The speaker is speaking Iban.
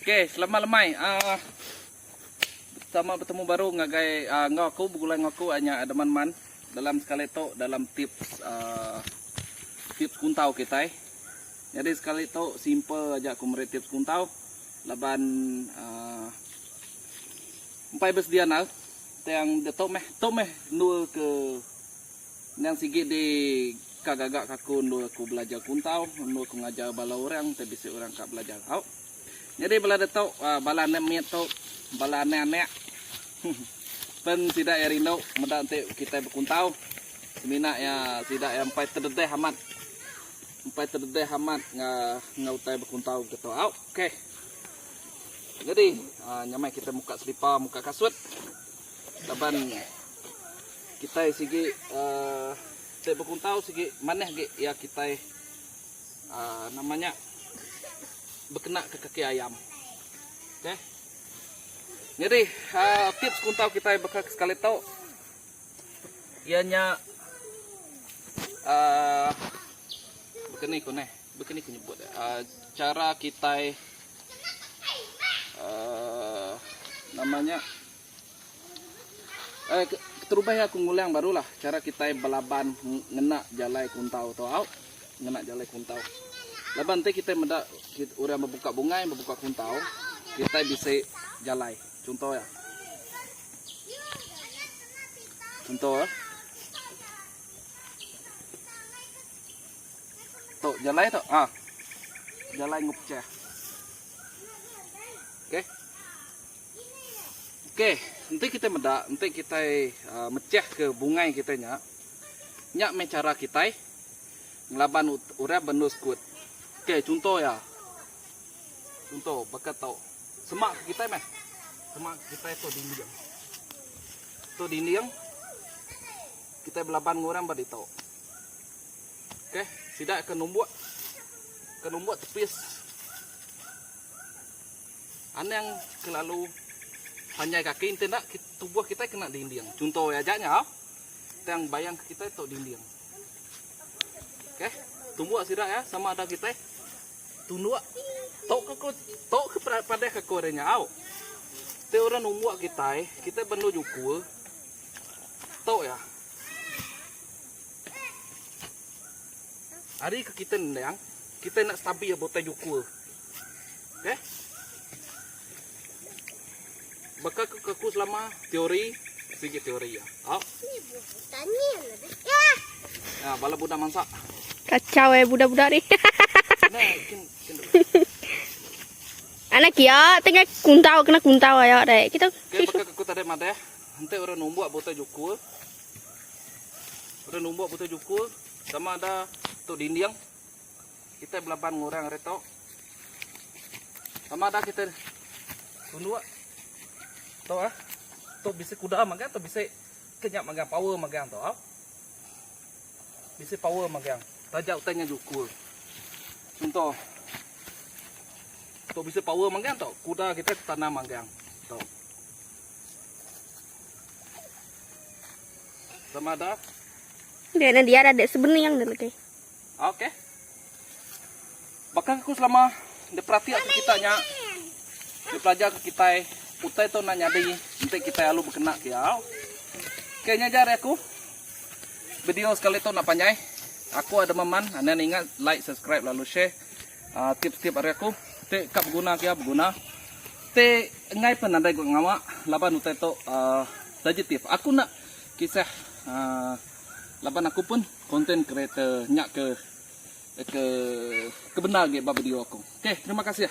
Okay, selamat lemai. Uh, sama bertemu baru ngagai uh, ngau aku begulai ngau aku hanya ada man-man dalam sekali tu dalam tips uh, tips kuntau kita. Jadi sekali tu simple aja aku meri tips kuntau laban uh, empai bersedia nal tang detok meh tok meh nul ke Endang sigi di ka gaga ka aku endur aku belajar kuntau, endur aku ngajar bala orang enti bisi orang ka belajar tau. Nyadi bala ditu bala anak mit tu bala anak anak pen sida iya rindu meda enti kitai bekuntau semina iya sida iya empai tededeh amat empai tededeh amat enggau utai bekuntau ke tu au. Okey. Nyadi nyamai kitai muka selipa muka kasut. Laban kitai sigi te bekuntau sigi manah agi iya kitai nama nya bekena ke kaki ayam. Okey. Nyadi tips kuntau kitai baka ke sekali tu iya nya baka ni ku neh baka ni ku nyebut dia chara kitai nama nya Keterubah iya aku ngulang barulah chara kitai belaban ngena jalai kuntau tu au. Ngena jalai kuntau. Laban enti kitai meda orang bebuka bungai, bebuka kuntau, kitai bisi jalai. Chunto iya. Chunto iya. Tu jalai tu. Ha. Jalai enggau pechah. Okey. Ok, enti kitai meda, enti kitai mechah ke bungai kitai nya, nya meh chara kitai ngelaban orang bendu sekut. Ok, chunto iya, chunto baka tu, semak ke kitai meh, semak ke kitai tu dinding, tu dinding kitai belaban enggau orang ba ditu. Ok, sida ke numbuk, ke numbuk tepis. Anang kelalu panjai kaki enti enda tubuh kitai kena dinding. Chunto iya aja nyau. Tang bayang ke kitai tok dinding. Okey, tumbuk sida ya sama ada kitai tunduk tok ke tok ke padah ke kore nyau. Te orang numbuk kitai, kitai bendu juku tok ya. Hari ke kitai nendang, kitai nak stabil botai juku. Okay. Baka aku kaku selama teori, sigi teori ya. Oh. Ya, bala budak mansak. Kacau eh budak-budak ni. Anak kia tengah kuntau kena kuntau ayo dek. Kita okay, baka aku tadi mate. Henti orang numbuk buta jukul. Orang numbuk buta jukul sama ada tu dinding. Kita belaban ngurang hari tu. Sama ada kita tunduk. Tu ah. Tu bisa kuda magang tu bisa kenyap magang power magang tu ah. Bisa power magang. Taja utangnya jukul. Contoh. Tu bisa power magang tu. Kuda kita tanam magang. Tu. Sama ada. Dia nanti ada sebening yang dah lagi. Ok. Baka aku selama dia perati aku kita nya. Dia pelajar ke kita utai tu nak nyadi enti kita alu berkena ke au. Ke nya jar aku. Video sekali tu nak panjai. Aku ada meman anda ingat like subscribe lalu share uh, tip-tip hari aku. Te kap guna ke berguna. Te engai pun anda ikut ngawa laban utai tu uh, sensitif. Aku nak kisah uh, laban aku pun Content creator nya ke ke ke bendar agi ba video aku. Okay terima kasih.